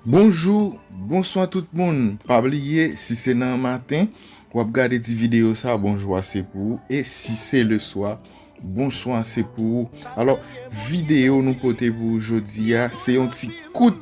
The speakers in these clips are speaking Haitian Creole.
Bonjou, bonswa tout moun, pa bliye si se nan maten wap gade ti video sa bonjou a se pou ou e si se le swa bonswa se pou ou. Alò video nou pote pou ou jodi a se yon ti kout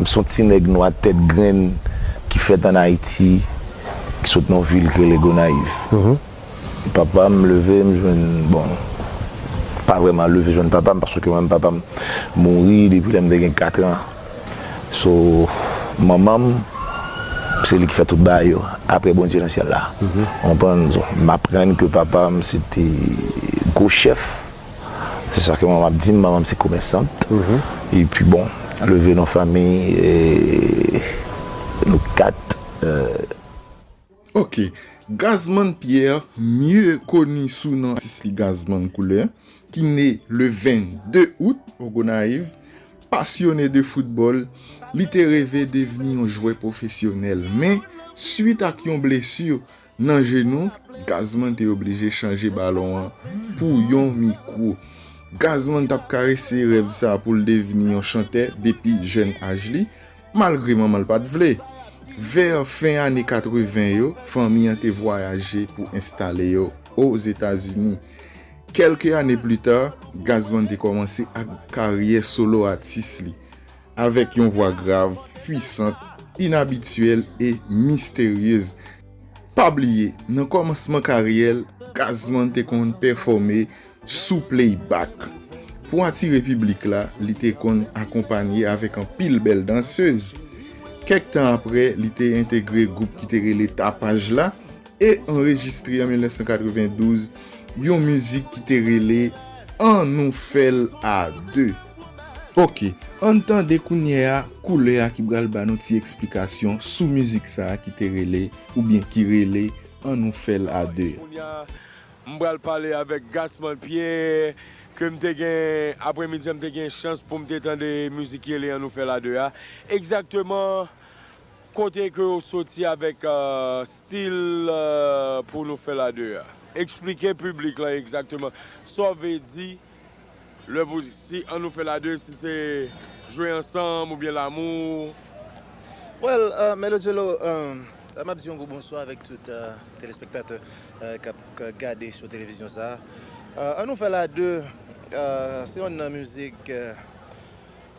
M s on ti nèg nwa tèt grenn ki fèt ann Ayiti, ki sot nan yon vil ki rele Gonayiv. Papa m leve m jwenn, bon, m pa vrèman leve jwenn papa m paske menm papa m mouri depi lè m te gen katran. So, manman m, se li ki fè tout bagay yo, apre Bondye nan syèl la. Ou konprann? M aprann ke papa m se te gwo chèf. Se sa ke manman ap di m, manman m se komèsant. E pi bon, leve nan fanmiy nou kat. Ok. Gazman Pierre, mye koni sou non Sisli Gazman Koulè, ki ne le 22 out o Gonayiv, pasyone de foutbòl, li te reve devni yon jwè pwofesyonèl men, swit ak yon blesi, Nan je nou, Gazman te oblije chanje balon an pou yon mikwo. Gazman t ap karese rèv sa a pou l devni yon chantè depi jèn aj li, malgre manman l pa t vle. Vè fen ane 80 yo, fanmi an te vwayaje pou enstale yo Ozetazini. Kèlke ane plita, Gazman te kòmanse ak karyè solo atis li. Avèk yon vwa grav, pwisant, inabityèl e misteryez. Pa bliye, nan kòmansman karyè l, Gazzman te konn pèfòme sou playbak. Pou atire piblik la, li te konn akonpanye avèk anpil bèl dansez. Kèk tan apre, li te entegre gwoup ki te rele Tapaj la, e anrejistre an 1992 yon mizik ki te rele An nou fè l a 2. Ok, ann tande kounye a Koulè a ki pral ba nou ti eksplikasyon sou mizik sa ki te rele oubyen ki rele An nou fè l a 2 a. Kounya m pral pale avèk Gasman Pierre ke m te gen apremidi an m te gen chans pou m te tande mizik ki rele An nou fè l a 2 a. Egzakteman Kote ke ou soti avèk stil pou nou fèl a 2 a? Eksplike piblik lan egzakteman sa w ve di lè pou si an nou fèl a 2 si se jwe ansanm oubyen lamou? Well Melo Djelo map di yon gwo bonswa avèk tout telespektatè kap gade sou televizyon sa a. An nou fèl a 2 se yonn nan mizik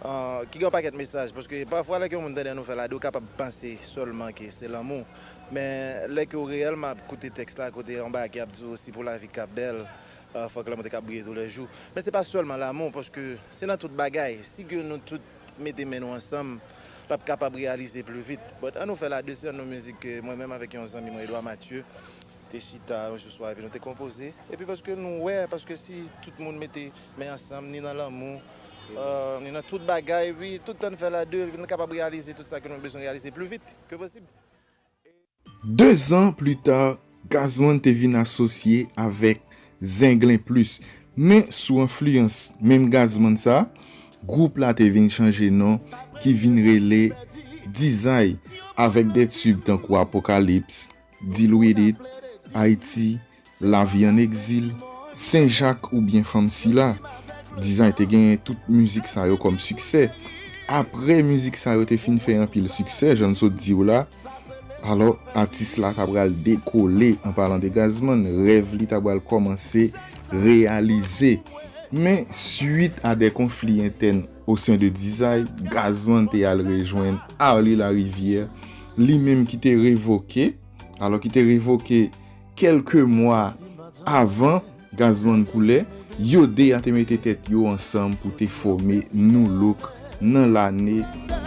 Ki gen yon pakèt mesaj. Paske pafwa lè ke yon moun tande nou fè la de ou kapab panse sèlman ke se lanmou. Men lè ke ou reyèlman ap koute tèks la kote anba a ki ap di ou si pou lavi ka bèl fòk lanmou te ka briye tou lè jou. Men se pa sèlman lanmou paske se nan tout bagay. Si ke nou tout mete men nou ansanm l ap kapab reyalize pli vit. But an nou fè la de se yon nou mizik ke mwen menm avèk yon zanmi mwen Edouard Mathieu te chita yon jou swa epi nou te konpoze epi paske nou wè paske si tout moun mete men ansanm ni nan lanmou ni nan tout bagay wi tout tan n fè l a 2 nou kapab reyalize tout sa ke nou bezwen reyalize pli vit ke posib. Dezan pli ta, Gazman te vin asosye avèk Zenglen Plus men sou enfliyans menm Gazman sa gwoup la te vin chanje non ki vin rele Dizay avèk de tube tankou Apokalips, Deal with it, Ayiti, Lavi an egzil, Sen Jak oubyen Fanm Sila. Dizay te genyen tout mizik sa yo kòm siksè. Apre mizik sa yo te fin fè anpil siksè, jan n sot di w la, alò atis la ta pral dekole, an palan de Gazman, rèv li ta pral kòmanse reyalize. Men, swit a de konfli entèn Au sein de Dizay, Gazman te al rejwenn Arly Larivière, li menm ki te revoke, alò ki te revoke kèlke mwa avan Gazman koule, yo 2 a te mete tèt yo ansanm pou te fòme Nu-Look nan lane.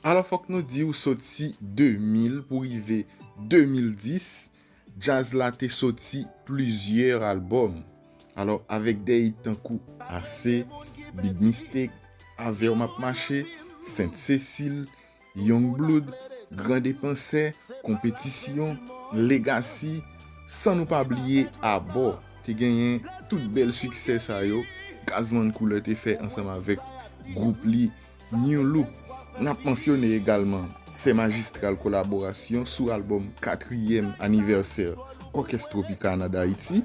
Alò fòk nou di ou soti 2000 pou rive 2010, djaz la te soti plizyè albòm. Alò avèk dè it tankou Ase, Big Mistake, Avè w m ap mache, Sent Sesil, Young Blood, Gran Depansè, Konpetisyon, Legasi, san nou pa bliye Abò, te genyen tout bèl siksè sa yo Gazzman Couleur te fè ansanm avèk gwoup li. Nu Look. N ap mansyone egalman sè majistral kolaborasyon sou albòm katriyèm anivèsè Òkès Tropicana D'Haiti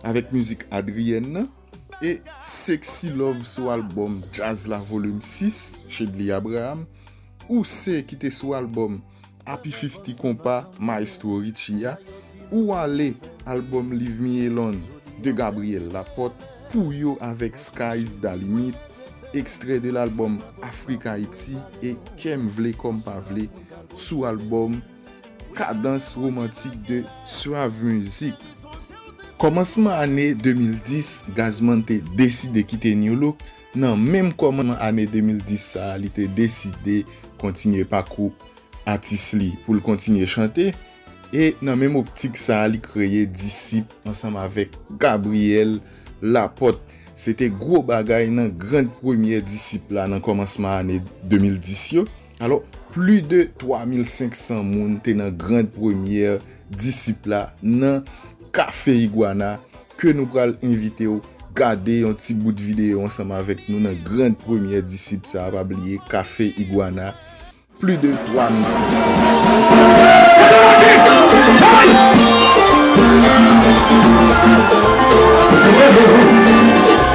avèk mizik Adrienne nan e Sexy Love sou albòm Djaz la Volume 6, Chedly Abraham, Ouse ki te sou albòm. Api fifty konpa maestro Richie a ou ale album live mi elon de Gabriel Laporte pou yo avek sky's da limit extrait de l'album Afrique Haïti et kem vle kom pa vle sou album cadence romantique de Suave music. Kòmansman ane 2010 Gazzman te deside kite Nu-Look Nan menm kòmansman ane 2010 sa a li te deside kontinye pakou atis li pou l kontinye chante e nan menm optik sa a li kreye Disip ansanm avèk Gabriel Laporte. Se te gwo bagay nan grand premyè Disip la nan kòmansman ane 2010 yo. Alò, pli de 3500 moun te nan grand premyè disip la nan Kafe Iguana ke nou pral envite w gade yon ti bout videyo ansanm avèk nou nan grand premyè disip sa a, pa bliye Kafe Iguana, pli de 3500.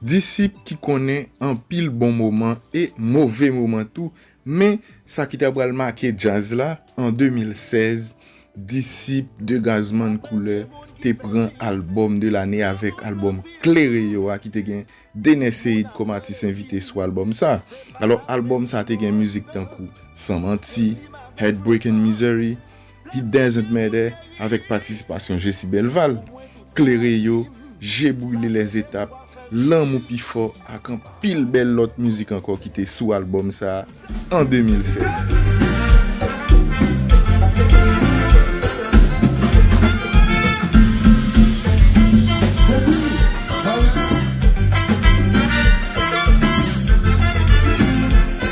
Disip ki konnen anpil bon moman e move moman tou, men sa ki ta pral make djaz la, an 2016, Disip de Gazzman Couleur te pran albòm de lane avèk albòm Klere yo a ki te gen Dener Ceïde kòm atis envite sou albòm sa. Alò, albòm sa te gen mizik tankou San Manti, Heartbreak and Misery, He doesn't matter avèk patisipasyon Jesi Belval, Klere yo, Je brile les etapes, Lanmou pi fò ak anpil bèl lòt mizik ankò ki te sou albòm sa an 2016.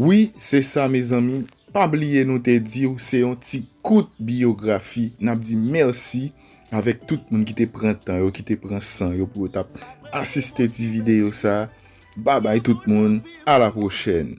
Wi se sa mezanmi pa bliye nou te diw se yon ti kout biyografi nap di mèsi avèk tout moun ki te pran tan yo ki te pran san yo pou yo tap asiste ti videyo sa babay tout moun a la pwochèn.